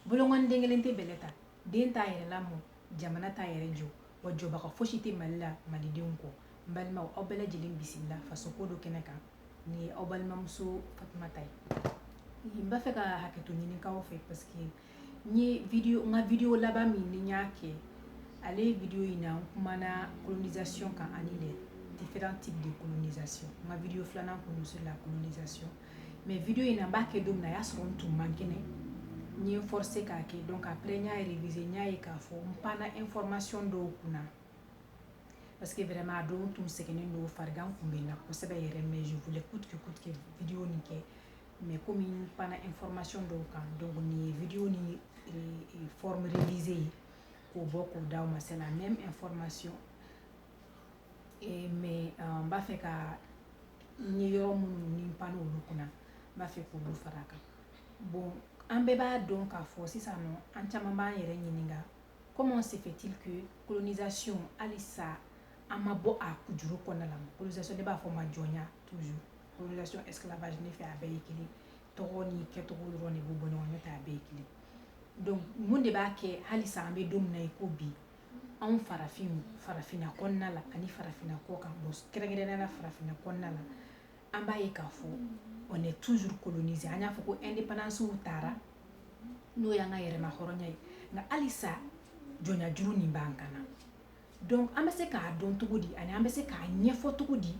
Bolonkɔni den kelen tɛ bɛlɛ ta, den t'a yɛrɛ lamɔ, jamana t'a yɛrɛ jɔ, wa jɔbaga fosi tɛ Mali la malidenw kɔ. N balimaw, aw bɛɛ lajɛlen bisimila faso ko dɔn kɛnɛ kan. Nin ye aw balimamuso Fatumata ye. N b'a fɛ ka hakɛto ɲini k'aw fɛ parce que n ye video n ka video laban min ni n y'a kɛ, ale video in na n kumana colonisation kan ani les différents types de colonisation. N ka video filanan kun don sur la colonisation. mais video in na n b'a kɛ don min na a y'a sɔrɔ n tun man kɛnɛ n ye n forcer k'a kɛ donc après n y'a réviser n y'a ye k'a fɔ n panna information dɔw kunna parce que vraiment a don n tun sɛgɛnnen don farigan tun bɛ n na kosɛbɛ yɛrɛ mais je voulais coûte que coûte que video nin kɛ mais komi n panna information dɔw kan donc nin ye video ni forme révisée ye k'o bɔ k'o d'aw ma c'est la même information Et mais euh, n b'a fɛ ka n ye yɔrɔ minnu ni n panna olu kunna n b'a fɛ k'olu fara a kan bon an bɛɛ b'a dɔn k'a fɔ sisan nɔ an caman b'an yɛrɛ ɲininka comment se fait-il que colonisation halisa an ma bɔ a kujuru kɔnɔna la colonisation ne b'a fɔ a ma jɔnya toujours colonisation esclavage ne fɛ a bɛɛ ye kelen tɔgɔ ni kɛcogo dɔrɔn de b'u bɔ ɲɔgɔn n'o tɛ a bɛɛ ye kelen donc mun de b'a kɛ halisa an bɛ don min na i ko bi anw farafin farafinna kɔnɔna la ani farafinna kɔ kan bon kɛrɛnkɛrɛnnenya la farafinna kɔnɔna la an b'a ye k'a fɔ on est toujours colonisé an y'a fɔ ko indépendance tara n'o y'an ka yɛrɛmahɔrɔnya ye nka halisa jɔnya juru nin b'an kan na donc an bɛ se k'a dɔn cogo di ani an bɛ se k'a ɲɛfɔ cogo di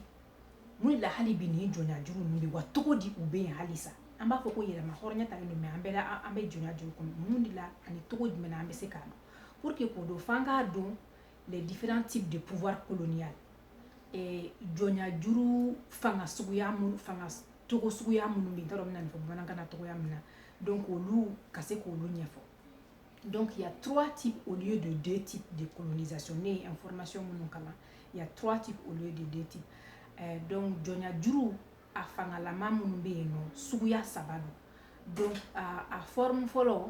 mun de la hali bi nin jɔnya juru ninnu bɛ wa cogo di u bɛ yen halisa an b'a fɔ ko yɛrɛmahɔrɔnya talen don mais an bɛ an bɛ jɔnya juru kɔnɔ mun de la ani cogo jumɛn na an bɛ se k'a dɔn Pour que k'o dɔn f'an k'a dɔn les différents types de pouvoir colonial eh, jɔnya juru fanga suguya minnu fanga cogo suguya minnu bɛ yen n t'a dɔn n bɛna nin fɔ bamanankan na cogoya min na donc olu ka se k'olu ɲɛfɔ donc il y a trois types au lieu de deux types de colonisation ne ye information minnu kalan il y a trois types au lieu de deux types eh, donc jɔnya juru a fangalama minnu bɛ yen nɔ suguya saba don donc a, a forme fɔlɔ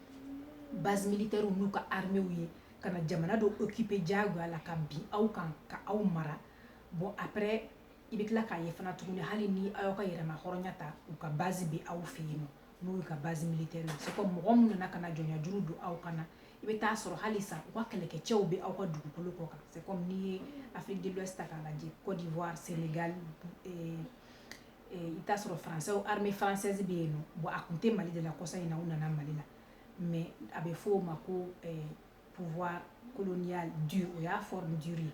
base militaire n'u ka armée ye ka na jamana dɔ occuper diyagoya la ka bin aw kan ka aw mara bon après i bɛ tila k'a ye fana tuguni hali ni aw y'aw ka yɛrɛmahɔrɔnya ta u ka base bɛ aw fɛ yen nɔ n'o y'u ka base militaire ye c'est comme mɔgɔ minnu nana ka na jɔnya juru don aw kan na i bɛ taa sɔrɔ halisa u ka kɛlɛkɛcɛw bɛ aw ka dugukolo kɔ kan c'est comme n'i ye Afrique de l'Ouest ta k'a lajɛ Côte d'Ivoire Sénégal eh, i t'a sɔrɔ français armée française bɛ yen nɔ bon a tun tɛ Mali de la kɔsa in na u nana Mali la mais a bɛ fɔ o ma ko pouvoir colonial dur o y'a forme dure ye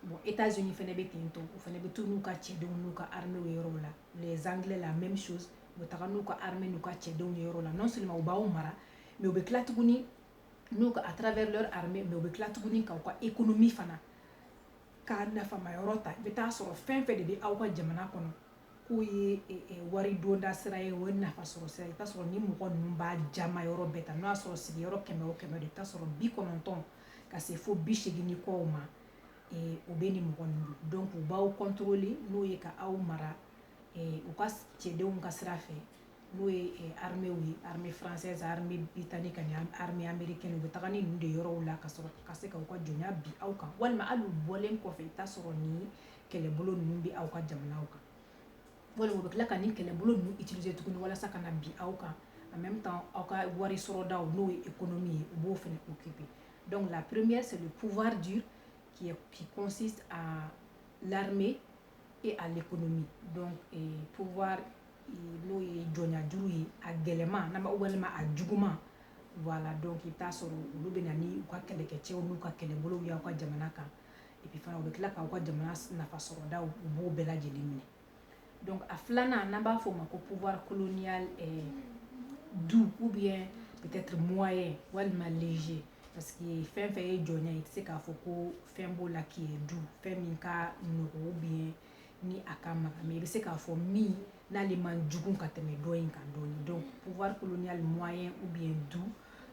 bon Etats-Unis fana bɛ ten tɔ u fana bɛ to n'u ka cɛdenw n'u ka armée ye yɔrɔw la les anglais la même chose u bɛ taga n'u ka armée n'u ka cɛdenw ye yɔrɔ la non seulement u b'aw mara mais u bɛ tila tuguni n'u ka à travers leur armée mais u bɛ tila tuguni k'aw ka économie fana k'a nafama yɔrɔ ta i bɛ taa sɔrɔ fɛn fɛn de bɛ aw ka jamana kɔnɔ k'o ye wari donda sira ye o ye nafa sɔrɔ sira ye i bɛ taa sɔrɔ ni mɔgɔ ninnu b'a jama yɔrɔ bɛɛ ta n'o y'a sɔrɔ sigiyɔrɔ kɛmɛ o kɛmɛ de i bɛ taa sɔrɔ bi kɔnɔntɔn ka se fo bi segin ni kɔw ma o bɛ nin mɔgɔ ninnu donc u b'aw contrôler n'o ye ka aw mara u ka cɛdenw ka sira fɛ n'o ye hamiw ye ha franzsɛ zan bɛ bi tan ni ka hamibe kɛ u bɛ taa ni ninnu de yɔrɔw la ka sɔrɔ ka se ka ka jɔnya bi aw kan walima hali bɔlen kɔfɛ i taa sɔrɔ ni kɛlɛbolo ninnu bɛ aw ka jamana kan walima bɛ tila ka ni kɛlɛbolo ninnu ijse tuguni walasa ka na bi aw kan a bɛ taa aw ka wari sɔrɔ da n'o ye e kɔnɔ min ye u b'o fana u kipi dɔnku la purmeye sɛ pwari kɔnsi a lareme e ale kɔnɔmi p n'o ye jɔnyajuru ye a gɛlɛnman na walima a juguman voilà donc i t'a sɔrɔ olu bɛ na ni u ka kɛlɛkɛcɛw n'u ka kɛlɛbolow y'aw ka jamana kan et puis fana u bɛ tila k'aw ka jamana nafa sɔrɔdaw u b'o bɛɛ lajɛlen minɛ donc a filanan n'an b'a fɔ o ma ko pouvoir colonial doux ou bien peut-être moyen walima léger parce que fɛn fɛn ye jɔnya ye i tɛ se k'a fɔ ko fɛn b'o la qui est doux fɛn min ka nɔgɔ ou bien ni a ka magan mais i bɛ se k'a fɔ min n'ale man jugu ka tɛmɛ dɔ in kan dɔɔni donc pouvoir colonial moyen ou bien doux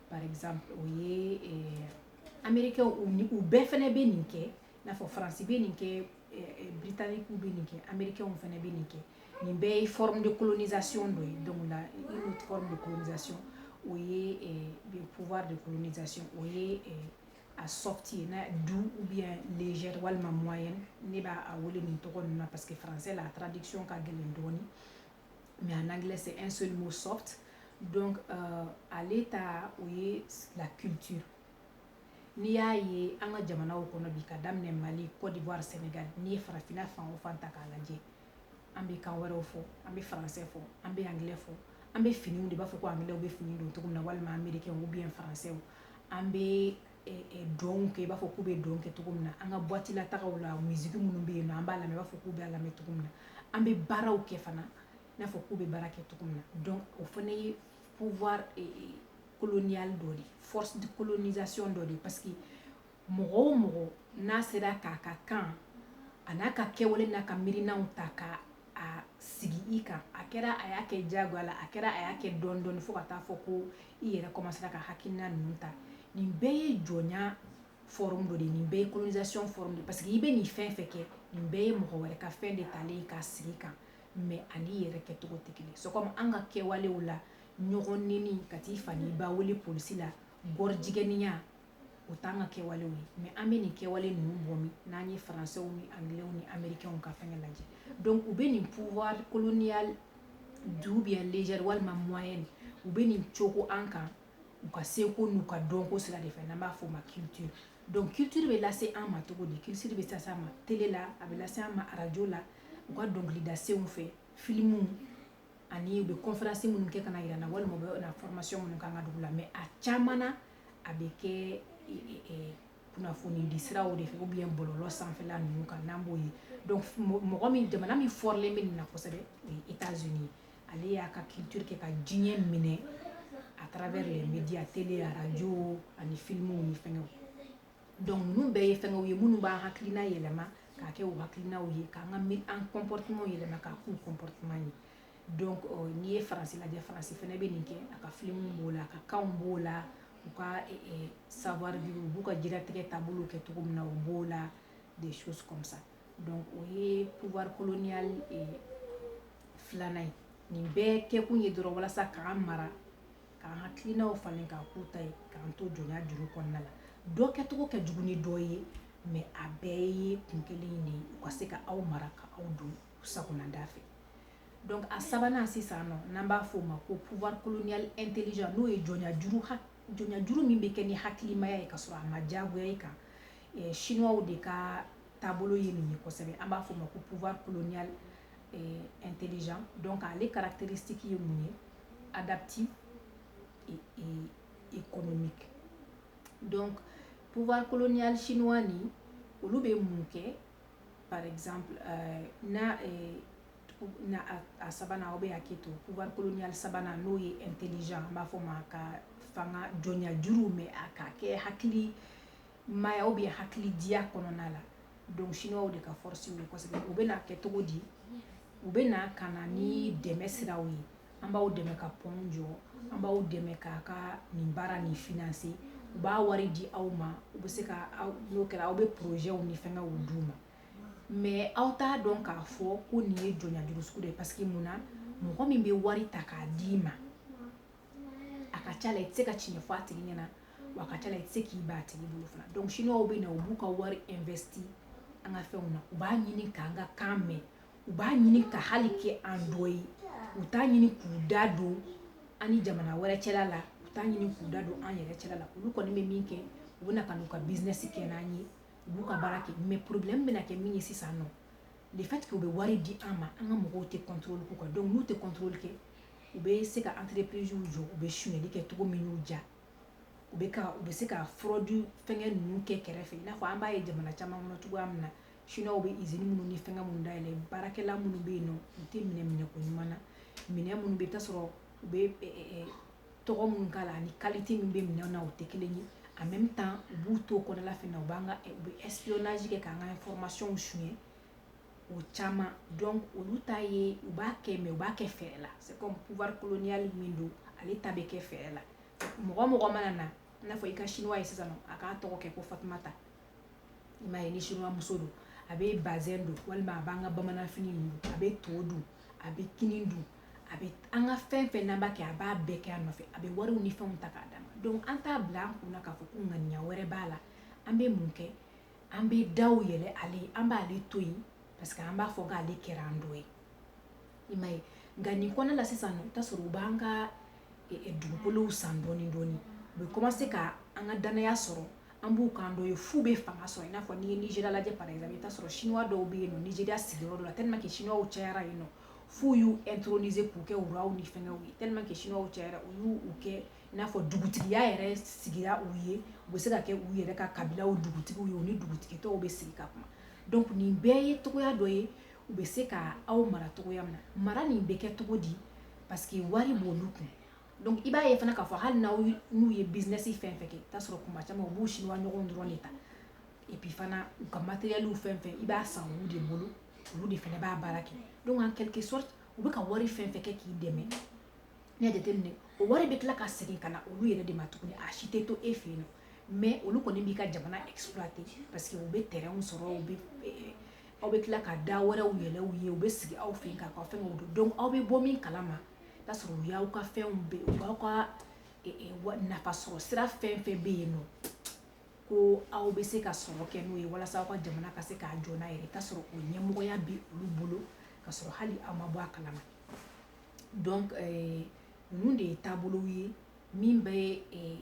par exemple o ye eh, américain u bɛɛ fana bɛ nin kɛ n'a fɔ faransi bɛ nin kɛ eh, eh, britannique bɛ nin kɛ américain fana bɛ nin kɛ nin bɛɛ ye forme de colonisation dɔ ye donc la une autre forme de colonisation o ye eh, pouvoir de colonisation o ye eh, a soft ye na doux ou bien légère walima moyenne ne b'a a wele nin tɔgɔ ninnu na parce que français la traduction ka gɛlɛn dɔɔni mais en anglais c'est un seul mot soft donc euh, ale ta o ye la culture n'i y'a ye an ka jamanaw kɔnɔ bi ka daminɛ mali côte d'ivoire sénégal n'i ye farafinna fan o fan ta k'a lajɛ an bɛ kan wɛrɛw fɔ an bɛ français fɔ an bɛ anglais fɔ an bɛ finiw don i b'a fɔ ko anglais bɛ fini don cogo min na walima américain ou bien français an bɛ dɔn kɛ i b'a fɔ k'u bɛ dɔn kɛ cogo min na an ka boîte la tagaw la musique minnu bɛ yen nɔ an b'a lamɛn i b'a fɔ k'u bɛ a lamɛn cogo min na an bɛ baaraw kɛ fana i n'a fɔ k'u bɛ baara kɛ cogo min na donc o fana ye pouvoir colonial dɔ de force de colonisation dɔ de parce que mɔgɔ o mɔgɔ n'a sera k'a ka kan a n'a ka kɛwale n'a ka miirinaw ta ka a sigi i kan a kɛra a y'a kɛ jagoya la a kɛra a y'a kɛ dɔɔni dɔɔni fo ka taa fɔ ko i yɛrɛ kɔmasera ka hakilina ninnu ta nin bɛɛ ye jɔnya forme dɔ de ye nin bɛɛ ye colonisation forme de ye parce que i bɛ nin fɛn fɛn kɛ nin bɛɛ ye mɔgɔ wɛrɛ ka fɛn de talen ye k'a sigi i kan mais a n'i yɛrɛ kɛcogo tɛ kelen c'est comme an ka kɛwalew la ɲɔgɔn neni ka t'i fa n'i ba wele polisi la gɔrijigɛniya o t'an ka kɛwale ye mais an bɛ nin kɛwale ninnu bɔ min n'an ye français ni anglais ni américains ka fɛn lajɛ donc u bɛ nin pouvoir colonial doux ou bien léger walima moyen u bɛ nin cogo an kan u ka seko n'u ka dɔnko sira de fɛ n'an b'a fɔ o ma culture donc culture bɛ lase an ma cogo di culture bɛ lase an ma télé la a bɛ lase an ma arajo la u ka dɔnkilidasenw fɛ filimu ani u bɛ conférence minnu kɛ ka jira an na walima u bɛ formation minnu k'an ka dugu la mais a caman na a bɛ kɛ kunnafoni di siraw de fɛ ou bien bɔlɔlɔ sanfɛla ninnu kan n'an b'o ye mɔgɔ min jamana min fɔrilen bɛ nin na kosɛbɛ o ye États-Unis ye ale y'a ka culture kɛ ka diɲɛ minɛ à travers les médias télé arajo ani filimu ni fɛn donc ninnu bɛɛ ye fɛnw ye minnu b'an hakilina yɛlɛma k'a kɛ u hakilinaw ye k'an ka an comportement yɛlɛma k'a k'u comportement ye donc n'i ye faransi lajɛ faransi fɛnɛ bɛ nin kɛ a ka filimuw b'o la a ka kan b'o la u ka savoir vivre u b'u ka diɲɛlatigɛ taabolo kɛ cogo min na u b'o la des choses comme ça donc o ye pouvoir colonial filanan ye nin bɛɛ kɛkun ye dɔrɔn walasa k'an mara k'an hakilinaw falen k'a k'u ta ye k'an to jɔnya juru kɔnɔna la dɔ kɛcogo ka jugu ni dɔ ye mais a bɛɛ ye kun kelen de ye u ka se ka aw mara ka aw don sagona da fɛ donc a sabanan sisan nɔ n'an b'a fɔ o ma ko pouvoir colonial intelligent n'o ye jɔnyajuru jɔnyajuru min bɛ kɛ ni hakilimaya ye ka sɔrɔ a ma diyagoya i kan eh, chinois de ka taabolo ye nin ye kosɛbɛ an b'a fɔ o ma ko pouvoir colonial eh, intelligent donc ale caractéristique ye mun ye adaptive et, et économique donc pouvoir colonial chinois ni olu bɛ mun kɛ par exemple euh, na euh, na a, a sabanan aw bɛ hakɛ to pouvoir colonial sabanan n'o ye intelligent an b'a fɔ o ma ko fanga jɔnya juru mais a ka kɛ hakilimaya ou bien hakilidiya kɔnɔna la donc chinois de ka force ye kosɛbɛ u bɛ na kɛ cogo di u bɛ na ka na ni dɛmɛ siraw ye an b'aw dɛmɛ ka pont jɔ an b'aw dɛmɛ k'a ka nin baara nin financer u b'a wari di aw ma u bɛ se ka n'o kɛra aw bɛ projetw ni fɛngɛw d'u ma mais aw t'a dɔn k'a fɔ ko nin ye jɔnya juru sugu de ye parce que mun na mɔgɔ min bɛ wari ta k'a d'i ma a ka ca la i tɛ se ka tiɲɛ fɔ a tigi ɲɛna wa a ka ca la i tɛ se k'i ban a tigi bolo fana donc chinoisw bɛ na u b'u ka wari investi an ka fɛnw na u b'a ɲini k'an ka kan mɛn u b'a ɲini ka hali kɛ an dɔ ye u t'a ɲini k'u da don an ni jamana wɛrɛ cɛla la u t'a ɲini k'u da don an yɛrɛ cɛla la olu kɔni bɛ min kɛ u bɛ na ka n'u ka business kɛ n'an ye u b'u ka baara kɛ mais problème bɛna kɛ min ye sisan nɔ le fait que u bɛ wari di an ma an ka mɔgɔw tɛ contrôle k'u kan donc n'u tɛ contrôle kɛ u bɛ se ka entreprise jɔ u bɛ sonyali kɛ cogo min y'u diya u bɛ ka u bɛ se ka fraude fɛngɛ ninnu kɛ kɛrɛfɛ i n'a fɔ an b'a ye jamana caman kɔnɔ cogoya min na Chinois bɛ usine minnu ni fɛngɛ minnu dayɛlɛ baarakɛla minnu bɛ yen nɔ u tɛ minɛ minɛko ɲuman na minɛn minnu bɛ yen i bɛ t'a sɔrɔ u bɛ tɔgɔ minnu k'a la ani qualité min bɛ minɛn na u tɛ kelen ye en même temps u b'u to o kɔnɔna fana u b'an ka u bɛ espionnage kɛ k'an ka information suɲɛ o caman donc olu ta ye u b'a kɛ mais u b'a kɛ fɛɛrɛ la c'est comme pouvoir colonial min don ale ta bɛ kɛ fɛɛrɛ la mɔgɔ mɔgɔ mana na i n'a fɔ i ka chinois ye sisan nɔ a k'a tɔgɔ kɛ ko Fatumata i m'a ye ni chinois-muso don a bɛ bazin don walima a b'an ka bamananfini don a bɛ to dun a bɛ kini dun a bɛ an ka fɛn fɛn n'an b'a kɛ a b'a bɛɛ kɛ an nɔfɛ a bɛ wariw ni fɛnw ta k'a d'an ma donc an t'a bila an kun na k'a fɔ ko ŋaniya wɛrɛ b'a la an bɛ mun kɛ an bɛ daw yɛlɛ ale ye an b'ale to yen parce que an b'a fɔ k'ale kɛra an dɔ ye i m'a ye nka nin kɔnɔna la sisan nɔ i bɛ t'a sɔrɔ u b'an ka eh, eh, dugukolow san dɔɔni dɔɔni u bɛ commencer ka an ka dannaya sɔrɔ an b'u k'an dɔ ye f'u bɛ fanga sɔrɔ i n'a fɔ n'i ye Nigéria lajɛ par exemple i bɛ t'a sɔrɔ chinois dɔw bɛ yen nɔ Nigéria sigiyɔrɔ dɔ la tellement que chinois cayara yen nɔ f'u y'u introniser k'u kɛ roiw ni fɛngɛw ye tellement que chinois cayara u y'u u kɛ i n'a fɔ dugutigiya yɛrɛ sigira u ye u bɛ se ka kɛ u yɛrɛ ka kabilaw dugutigiw ye u ni dugutigi tɔw bɛ sigi ka kuma donc nin bɛɛ ye cogoya dɔ ye u bɛ se ka aw mara cogoya min na mara nin bɛ kɛ cogo di parce que wari b'olu kun Donc i b'a ye fana k'a fɔ hali n'aw n'u ye business fɛn fɛn kɛ i bɛ t'a sɔrɔ kuma caman u b'u chinois ɲɔgɔnw dɔrɔn de ta et puis fana u ka matériels fɛn fɛn i b'a san olu de bolo olu de fana b'a baara kɛ donc en quelque sorte u bɛ ka wari fɛn fɛn kɛ k'i dɛmɛ n'i y'a jateminɛ o wari bɛ tila ka segin ka na olu yɛrɛ de ma tuguni a si tɛ to e fɛ yen nɔ mais olu kɔni b'i ka jamana exploiter parce que u bɛ terrainw sɔrɔ u bɛ eh, aw bɛ tila ka da wɛrɛw yɛlɛ u ye u bɛ sigi aw fɛ yen k'aw ka fɛnw dɔn donc aw bɛ bɔ min kalama t'a sɔrɔ u y'aw ka fɛnw bɛɛ u b'aw ka nafa sɔrɔ sira fɛn fɛn bɛ yen nɔ ko aw bɛ se ka sɔrɔ kɛ n'o ye walasa aw ka jamana ka se k'a jɔ n'a yɛrɛ i t'a sɔrɔ o ɲɛmɔgɔya bɛ olu bolo ka sɔrɔ hali aw ma bɔ a kalama donc euh, ninnu de ye taabolow ye min bɛ euh,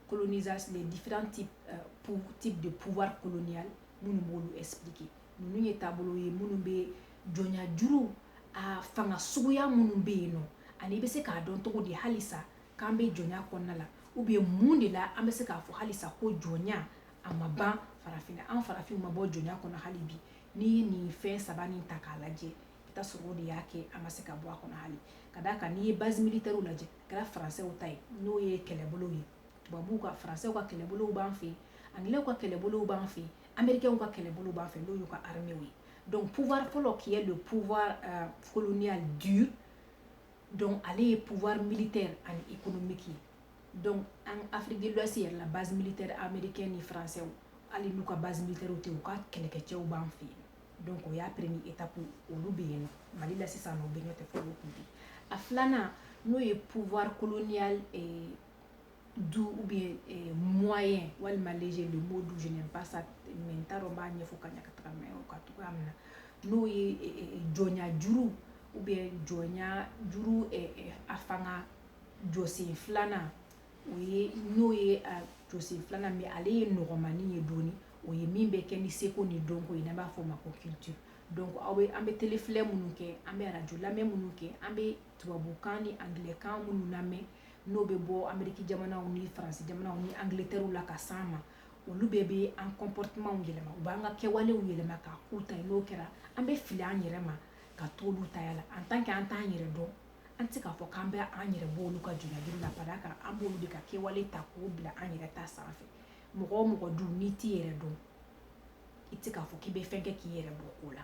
colonisation les différents types euh, types de pouvoir colonial minnu b'olu expliquer ninnu ye taabolo ye minnu bɛ jɔnya juru a fanga suguya minnu bɛ yen nɔ ani i bɛ se k'a dɔn cogo di halisa k'an bɛ jɔnya kɔnɔna la ou bien mun de la an bɛ se k'a fɔ halisa ko jɔnya a ma ban farafin an farafinw ma bɔ jɔnya kɔnɔ hali bi n'i ye nin fɛn saba nin ta k'a lajɛ i t'a sɔrɔ o de y'a kɛ an ma se ka bɔ a kɔnɔ hali ka d'a kan n'i ye base militaire lajɛ a kɛra faransɛw ta ye n'o ye kɛlɛbolow ye tubabuw ka faransɛw ka kɛlɛbolow b'an fɛ yen anglais ka kɛlɛbolow b'an fɛ Américains ka kɛlɛbolow b'an fɛ yen n'o y'u ka armée ye donc pouvoir fɔlɔ qui est le pouvoir euh, colonial dur donc ale ye pouvoir militaire ani économique ye donc en Afrique de l'Ouest yɛrɛ la base militaire américaine ni français hali n'u ka base militaire tɛ u ka kɛlɛkɛcɛw b'an fɛ yen donc o y'a premier étape olu bɛ yen nɔ Mali la sisan nɔ u bɛ ɲɔtɛ fo o kun tɛ a filanan n'o ye pouvoir colonial eh doux ou bien eh, moyen walima léger le mot doux je n'aime pas ça mais n t'a dɔn n b'a ɲɛfɔ ka ɲa ka taga mɛ o ka cogoya min na n'o ye eh, eh, eh jɔnya juru ou bien jɔnya juru eh, eh, a fanga jɔsen filanan o ye n'o ye a jɔsen filanan mais ale ye nɔgɔmani ye dɔɔni o ye min bɛ kɛ ni seko ni dɔnko ye n'an b'a fɔ o ma ko culture donc aw bɛ an bɛ telefilɛ minnu kɛ an bɛ arajo lamɛn minnu kɛ an bɛ tubabukan ni angilɛkan minnu lamɛn n'o bɛ bɔ ameriki jamanaw ni faransi jamanaw ni Angleterre la ka s'an ma olu bɛɛ bɛ an comportement yɛlɛma u b'an ka kɛwalew yɛlɛma k'a k'u ta ye n'o kɛra an bɛ fili an yɛrɛ ma ka to olu ta la en tant que an t'an yɛrɛ dɔn an tɛ se k'a fɔ k'an bɛ an yɛrɛ bɔ olu ka jɔnjuru la ka d'a kan an b'olu de ka kɛwale ta k'o bila an yɛrɛ ta sanfɛ mɔgɔ o mɔgɔ dun n'i t'i yɛrɛ dɔn i tɛ se k'a fɔ k'i bɛ fɛn kɛ k'i yɛrɛ bɔ o la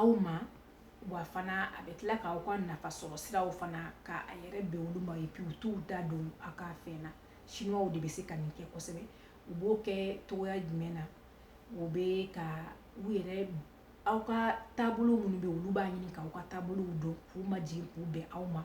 aw ma wa fana a bɛ tila k'aw ka nafa sɔrɔ siraw fana ka a yɛrɛ bɛn olu ma et puis u t'u da don a ka fɛn na Chinois de bɛ se ka nin kɛ kosɛbɛ u b'o kɛ cogoya jumɛn na o bɛ ka u yɛrɛ aw ka taabolo minnu bɛ olu b'a ɲini k'aw ka taabolow dɔn k'u majigin k'u bɛn aw ma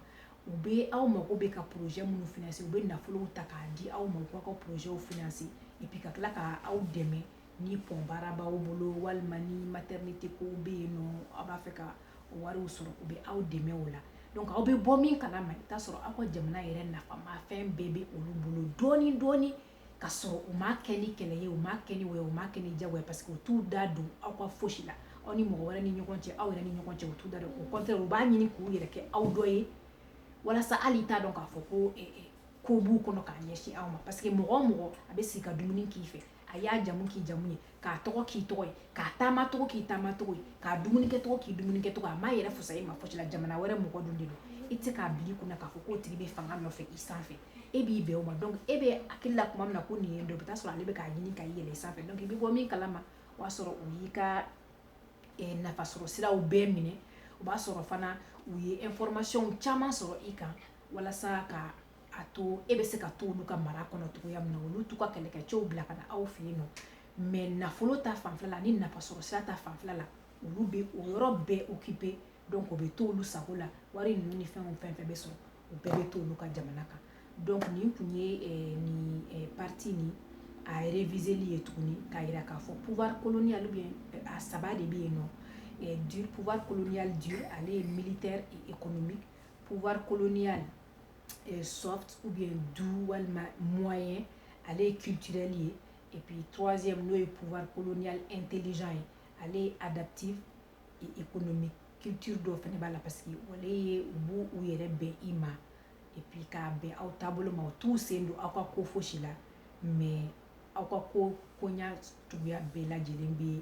u bɛ aw mago bɛ ka projet minnu financer u bɛ nafolow ta k'a di aw ma u k'aw ka projetw financer et puis ka tila ka aw dɛmɛ ni pont baara b'aw bolo walima ni maternité kow bɛ yen nɔ aw b'a fɛ ka o wariw sɔrɔ u bɛ aw dɛmɛ o la donc aw bɛ bɔ min kalama i bɛ t'a sɔrɔ aw ka jamana yɛrɛ nafamafɛn bɛɛ bɛ olu bolo dɔɔni dɔɔni ka sɔrɔ u m'a kɛ ni kɛlɛ ye u m'a kɛ ni wɛ u m'a kɛ ni jago ye parce que u t'u da don aw ka fosi la aw ni mɔgɔ wɛrɛ ni ɲɔgɔn cɛ aw yɛrɛ ni ɲɔgɔn cɛ u t'u da don au contraire u b'a ɲini k'u yɛrɛ kɛ aw dɔ ye walasa hali i t'a dɔn k'a fɔ ko eh, eh, ko b'u kɔnɔ k'a ɲɛsin aw ma parce que mɔgɔ o mɔgɔ a bɛ sigi ka dumuni k'i fɛ a y'a jamu k'i jamu ye k'a tɔgɔ k'i tɔgɔ ye k'a taamacogo k'i taamacogo ye k'a dumunikɛcogo k'i dumunikɛcogo a m'a yɛrɛ fusaya i ma fosi la jamana wɛrɛ mɔgɔ dun de don i tɛ se k'a bila i kunna k'a fɔ k'o tigi bɛ fanga nɔfɛ i sanfɛ e b'i bɛn o ma donc e bɛ hakili la tuma min na ko nin ye dɔ i bɛ taa sɔrɔ ale bɛ k'a ɲini ka yɛlɛ sanfɛ donc i bɛ bɔ min kalama o y'a sɔrɔ o y'i ka eh, nafasɔrɔ siraw bɛɛ minɛ o b'a sɔrɔ fana u ye information caman sɔrɔ i kan walasa ka a to e bɛ se ka to olu ka mara kɔnɔ cogoya min na olu t'u ka kɛlɛkɛcɛw bila ka na aw fɛ yen nɔ mais nafolo ta fanfɛ la ani nafasɔrɔ sira ta fanfɛ la olu bɛ o yɔrɔ bɛɛ occuper donc o bɛ to olu sago la wari ninnu ni fɛnw fɛn fɛn bɛ sɔrɔ u bɛɛ bɛ to olu ka jamana kan donc nin tun ye eh, nin eh, partie nin a réviseli ye tuguni k'a jira k'a fɔ pouvoir colonial bɛ eh, a saba de bɛ yen nɔ dur pouvoir colonial dur ale ye militaire et économique pouvoir colonial euh, soft ou bien doux walima moyen ale ye culturel ye et puis troisième n'o ye pouvoir colonial intelligent ye ale ye adaptive et économique culture dɔ fana b'a la parce que ale ye u b'u u yɛrɛ bɛn i ma et puis k'a bɛn aw taabolo ma u t'u sen don aw ka ko fosi la mais aw ka ko koɲa cogoya bɛɛ lajɛlen bɛ